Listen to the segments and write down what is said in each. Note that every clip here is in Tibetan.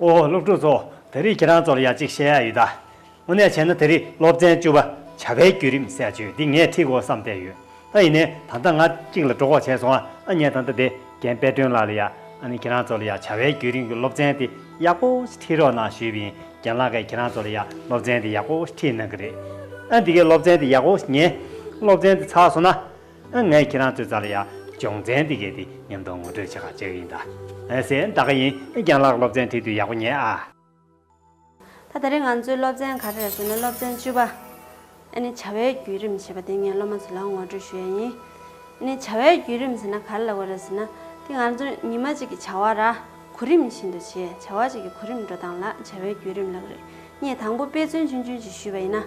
ཨོ་ཧོ་སློབ་ཕྲུག་ཚོ་དེ་རིགས་ཁྱེད་རང་ཚོར་ཡང་ཅིག་བཤད་ཡ་ཡོད་ད། དངོས་གནས་བྱས་ན་དེ་རིགས་སློབ་ཚན་བཅུ་པ་བྱ་བའི་བརྒྱུད་རིམ་གསལ་བརྗོད་འདི་ངས་ཁྲིད་དགོས་བསམ་བསྡད་ཡོད་ཨ་ཡིན་ནའི་ད་ལྟ་ང་གཅིག་ལ་སྒྲོག་བྱས་སོང་ཨ་ཨ་ངས་ད་ལྟ་དེ་རྒན་དཔལ་སྒྲོན་ལགས་ལ་ཡ་ཨ་ནི་ཁྱེད་རང་ཚོ་ལ་ཡ་བྱ་བའི་བརྒྱུད་རིམ་གྱི་སློབ་ཚན་དེ་ཡག་པོ་ཞིག་ཁྲིད་རོགས་གནང་ཞུས་པ་ཡིན་རྒན་ལགས་ཀས་ཁྱེད་རང་ཚོ་ལ་ཡ་སློབ་ཚན་དེ་ཡག་པོ་ཞིག་ཁྲིད་གནང་གི་རེད་ཨ་འདི་གའི་སློབ་ཚན་དེ་ཡག་པོ་ཞིག་ཉན་སློབ་ཚན་དེ་ཚར་སོང་ན། ཨ་ངས་ཁྱེད་རང་ཚོའི་རྩ་ལ་ཡག་སྦྱོང་ཚན་འདི་གས་ཏེ་མཉམ་དུ་ངོ་སྤྲོད་བྱེད་ཁག་བྱེད་ཀྱི་ཡིན་ད། ཨ་སེ་ད་ག་ཡིན་རྒྱང་ལགས་སློབ་ཚན་ཐིག་དུས་ཡག་པོ་ཉན་ཨ། ད་ད་རེས་ང་ཚོའི་སློབ་ཚན་ག་རེ་རེད་ཟེར་ན་སློབ་ཚན་བཅུ་པ། ཨ་ནི་བྱ་བའི་བརྒྱུད་རིམ་ཞེས་པ་དེ་ངས་སློབ་མ་ཚོ་ལ་ངོ་སྤྲོད་ཞུ་ཡ་ཡིན། ཨ་ནི་བྱ་བའི་བརྒྱུད་རིམ་ཟེར་ན་ག་རེ་ལ་དགོས་རེད་ཟེར་ན་དེ་ང་ཚོར་ཉི་མ་གཅིག་གི་བྱ་བ་ར་གུ་རིམ་བཞིན་དུ་བྱས་བྱ་བ་གཅིག་གི་གུ་རིམ་འགྲོ་སྟངས་ལ་བྱ་བའི་བརྒྱུད་རིམ་ལགས་རེད་ངས་དང་པོ་དཔེ་མཚོན་ཆུན་ཆུན་ཞིག་ཞུས་པ་ཡིན་ན།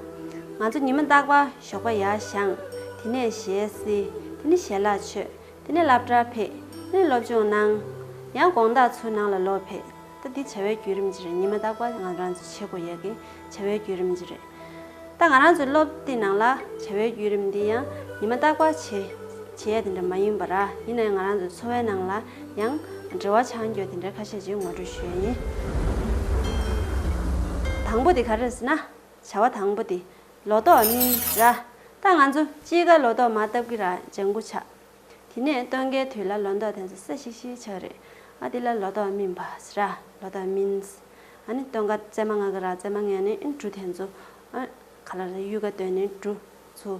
ང་ཚོ་ཉི་མ་རྟག་པར་ཞོགས་པ་ཡར་བཞེངས། དེ་ནས་ཞལ་བསིལ། དེ་ནས་ཞལ་ལག་མཆོད། དེ་ནས་སླབ་གྲྭར་ཕེབས། དེ་ནས་སློབ་སྦྱོང་གནང། ཡང་དགོང་དག་ཚོའི་ནང་ལ་ལོག་ཕེབས། ད་འདི་བྱ་བའི་བརྒྱུད་རིམ་གྱི་རེད་ཉི་མ་རྟག་པར་ང་རང་ཚོའི་བྱེད་དགོས་ཡས་ཀྱི་བྱ་བའི་བརྒྱུད་རིམ་གྱི་རེད། ད་ང་རང་ཚོའི་སློབ་དེབ་ནང་ལ་བྱ་བའི་བརྒྱུད་རིམ་འདི་ཡང་ཉི་མ་རྟག་པར་བྱེད། བྱེད་ཡས་དེ་འདྲ་མ་ཡིན་པ་ར་ཡིན་ན་ཡང་ང་རང་ཚོའི་འཚོ་བའི་ནང་ལ་ཡང། འབྲེལ་བ་ཆང་འགྱོད་དེ་འདྲའི་ཁ་ཤས་ཅིག་ངོ་སྤྲོད་ཞུ་ཡ་ཡིན། དང་པོ་དེ་ག་རེད་ཟེར་ན། བྱ་བ་དང་པོ་དེ། ལོ་ཏོག་སྨིན། ར། ད་ང་ཚོ་དཔྱིད་ཀ་ལོ་ཏོག་མ་བཏབ་ཀི་ར་ལྗང་སྐུ་ཆགས། དེ་ནས་སྟོན་ཀའི་དུས་ལ་ལོ་འདོགས་དེ་ཚོ་སེ་ཤིག་ཤིག་ཆགས་རེད། ཨ་དེ་ལ་ལོ་ཏོག་སྨིན་པ། ར། ལོ་ཏོག་སྨིན། ཨ་ནི་སྟོན་ཀ་བཙས་མ་ང་གི་ར་བཙས་མ་ངན་ནི་འབྲུ་དེ་ཚོ། ཨ། ག་ལ་ར་གཡུལ་ཀ་སྟོན་ནི་འབྲུ། ཚོ།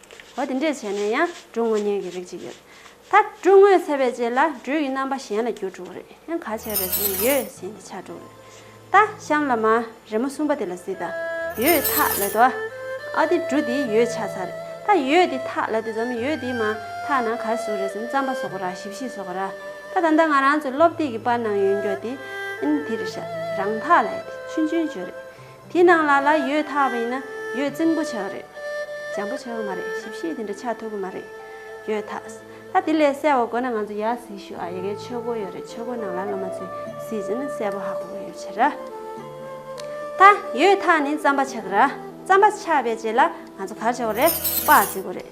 འོ་དེ་འདྲས་བྱས་ན་ཡང་འབྲུ་དངོས་གཉེན་གྱི་རིགས་གཅིག་ཡོད། ད་འབྲུ་དངོས་ཚད་པས་བཅད་ལ་འབྲུ་ཡི་རྣམ་པ་གཞན་ལ་འགྱུར་འགྲོ་བ་རེད་ཡང་ག་བྱས་པས་ཟེར་ན་ཡོད་གཞན་གྱི་ཆ་འགྲོ་བ་རེད། ད་གཤམ་ལ་མ་རེ་མོ་གསུམ་པ་དེ་ལ་གཟིགས་དང། ཡོད་ཐག་ལད་དོ། ཨ་དེ་འབྲུ་དེའི་ཡོད་ཆ་ཚ་རེད། ད་ཡོད་དེ་ཐག་ལད་དེ་འཛམ་གླིང་ཡོད་དེའི་མ་ཐག་ན་གར་ཟུག་རེད་ཟེར་ན་རྩམ་པ་ཟོག་པོ་ར་ཞིབ་བཤིག་ཟོག་པོ་ར། ད་ད་ལྟ་ང་རང་ཚོས་སློབ་དེབ་ཀྱི་པར་ནང་ཡོད་མགྱོགས་དེ། ཨིན་དེ་རེད་ཤག་རང་ཐག་ལད་དེ་ཆུན་ཆུན་བརྗོད་རེད། དེ་ནང་ལ་ལ་ཡོད་ཐག་པ་ཡིན་ན་ཡོད་རྩིང་པོ་བྱས་པ་རེད། འཇམ་པོ་བྱས་པ་མ་རེད་ཞིབ་བཤེར་དེ་འདྲ་ཆགས་ཐུབ་ཀྱི་མ་རེད། ཡོད་ཐག་ཨ་དེ་ལས་གསལ་བ་དགོས་ན་ང་ཚོ་ཡར་གཟིགས་ཞུ་ཨ་ཡི་གེ་ཆོས་སྒོ་ཡོད་རེད་ཆོས་སྒོ་ནང་ལ་སློབ་མ་ཚོས་གཟིགས་ཟིན་ན་གསལ་པོ་ཧ་གོ་གི་ཡོད་ཕྱིར། ད་ཡོད་ཐག་ནི་རྩམ་པ་ཆགས་ཀྱི་ར་རྩམ་པ་ཆགས་པའི་རྗེས་ལ་ང་ཚོ་གར་བྱ་བ་རེད་དཔའ་བརྩི་དགོས་རེད།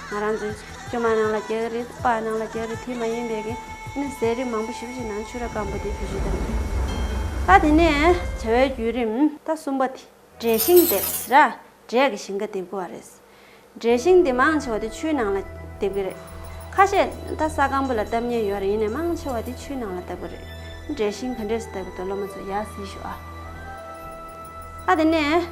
ང་རང་ཚོས་སྐྱོ་མ་ནང་ལ་སྐྱེ་གི་རེད་དཔའ་ནང་ལ་སྐྱེ་གི་རེད་དེ་མ་ཡིན་པའི་གནས་ཟས་རིགས་མང་པོ་ཞིབ་བཞིན་ནང་ཆུ་ར་སྐམ་པོ་དེ་བུད་ཤིང་བཏབ་ནས་ད་དེ་ནས་བྱ་བའི་བརྒྱུད་རིམ་ད་གསུམ་པ་དེ། འབྲས་ཤིང་འདེབས་ར་འབྲས་ཀྱི་ཞིང་ཁ་འདེབས་དགོས་བ་རེད། འབྲས་ཤིང་དེ་མང་ཆེ་བ་དེ་ཆུའི་ནང་ལ་འདེབས་ཀྱི་རེད། ཁ་ཤས་ད་ས་སྐམ་པོ་ལ་བཏབ་ཉེན་ཡོད་རེད་ཡིན་ནས་མང་ཆེ་བ་དེ་ཆུའི་ནང་ལ་བཏབ་ཀྱི་རེད། འབྲས་ཤིང་ག་འདྲས་སུ་བཏབ་ཀྱི་འདུག་སློབ་མ་ཚོ་ཡར་གཟིགས་ཤོག་ཨ། ད་དེ་ནས།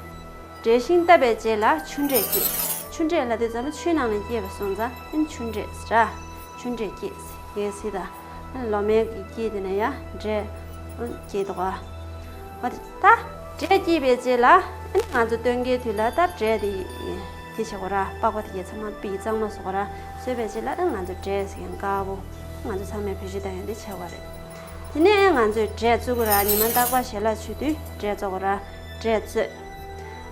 འབྲས་ཤིང་བཏབ་པའི་རྗེས་ལ་ཆུ་འབྲས་སྐྱེས། ཆུ་འབྲས་ལ་དེ་ཙམ་མ་ཆུའི་ནང་ནས་སྐྱེས་པ་སོང་ཙང་ཨེན་ཆུ་འབྲས་ར། ཆུ་འབྲས་སྐྱེས། ཡས་སི་ད། ལོ་མའི་སྐྱེས་དེ་ནས་ཡ། འབྲས། སྐྱེས་ཏོ་ཨ། བ་དི་ད། འབྲས་སྐྱེས་པའི་རྗེས་ལ་ཨེན་ང་ཚོ་སྟོན་ཀའི་དུས་ལ་ད་འབྲས་དེ། དེ་བྱེད་གོ་ར་པགས་པ་དེ་ཡས་ཚང་མ་པིག་གཙང་མ་བཟོ་གོ་ར་བཟོས་པའི་རྗེས་ལ་ཨེན་ང་ཚོ་འབྲས་ཡང་དཀའ་བོ། ང་ཚོ་ཚང་མས་བུ་བཞི་དང་ཡང་དེ་བྱེད་གོ་ར། དེ་ནས་ཨེན་ང་ཚོས་འབྲས་བཙོས་གོ་ར་ཉི་མ་འདག་པ་བྱེད་ལ་ཆུ་དུས་འབྲས་བཙོ་གོ་ར། འབྲས་བཙོས།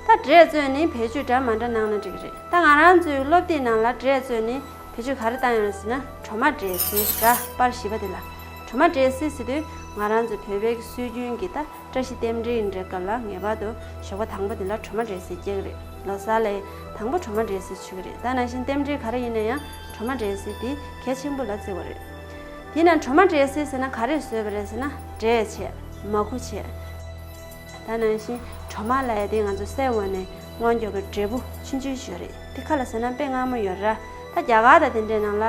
ད་འབྲས་བརྩོན་ནི་བེད་སྤྱོད་འདྲ་མ་འདྲ་གནང་ན་འགྲིག་རེད་ད་ང་རང་ཚོའི་སློབ་དེབ་ནང་ལ་འབྲས་བརྩོན་ནི་བེད་སྤྱོད་ག་རེ་བཏང་ཡོང་ཟེར་ན་གྲོ་མ་འབྲས་སིལ་འདྲ་པར་བཞི་པ་དེ་ལ་གྲོ་མ་འབྲས་སིལ་ཟེར་དུས་ང་རང་ཚོ་བོད་པའི་སྲོལ་རྒྱུན་གྱི་ད་བཀྲ་ཤིས་བསྟན་འགྲེལ་འདྲའི་སྐབས་ལ་ངེས་པར་དུ་ཞོགས་པ་དང་པོ་དེ་ལ་གྲོ་མ་འབྲས་སིལ་སྐྱེ་གི་རེད་ལོ་སར་ལ་ཡི་དང་པོ་གྲོ་མ་འབྲས་སིལ་ཆུ་གི་རེད་ད་ནང་བཞིན་བསྟན་འགྲེལ་ག་རེ་ཡིན་ན་ཡང་གྲོ་མ་འབྲས་སིལ་དེ་གལ་ཆེན་པོ་ལ་བརྩི་བ་རེད། དེས་ན་གྲོ་མ་འབྲས་སིལ་ཟེར་ན་ག་རེ་བཟོས་པ་རེད་ཟེར་ན་འབྲས་ཆེ། མ་ཁུ་ཆེ། ད་ནང་བཞིན་གྲོ་མ་ལ་ཡ་དེ་ང་ཚོ་སའི་འོག་ནས་དངོས་འབྱོར་གྱི་འབྲས་བུ་ཕྱིན་ཅི་ཞོལ་རེད་དེ་ཁ་ལ་ཟེར་ན་དཔེ་སྔ་མོ་ཡོད་ར་ད་རྒྱ་གར་དང་དེ་འདྲའི་ནང་ལ་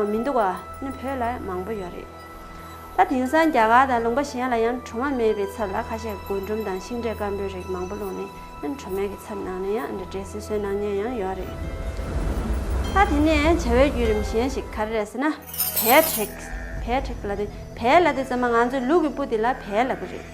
མི་འདུག་བ་ནི་བོད་ལ་མང་པོ་ཡོད་རེད་ད་དེང་སང་རྒྱ་གར་དང་ལུང་པ་གཞན་ལ་ཡང་གྲོ་མ་མེད་པའི་ཚབ་ལ་ཁ་ཤས་རྒུན་འབྲུམ་དང་ཤིང་འབྲས་སྐམ་པོའི་རིགས་མང་པོ་བླུགས་ནས་ཨ་གྲོ་མའི་གི་ཚབ་ནང་ནས་ཡང་འདྲ་འདྲའི་སྲིད་སྲོལ་གནང་མྱོང་ཡང་ཡོད་རེད་ད་དེ་ནས་བྱ་བའི་བརྒྱུད་རིམ་གཞན་ཞིག་ག་རེ་རེད་ཟེར་ན་བལ་བྲེགས་བལ་བྲེགས་ལ་དེ་བལ་ལ་དེ་ཚང་མ་ང་ཚོའི་ལུག་གི་སྤུ་དེ་ལ་བལ་ལབ་པ་རེད།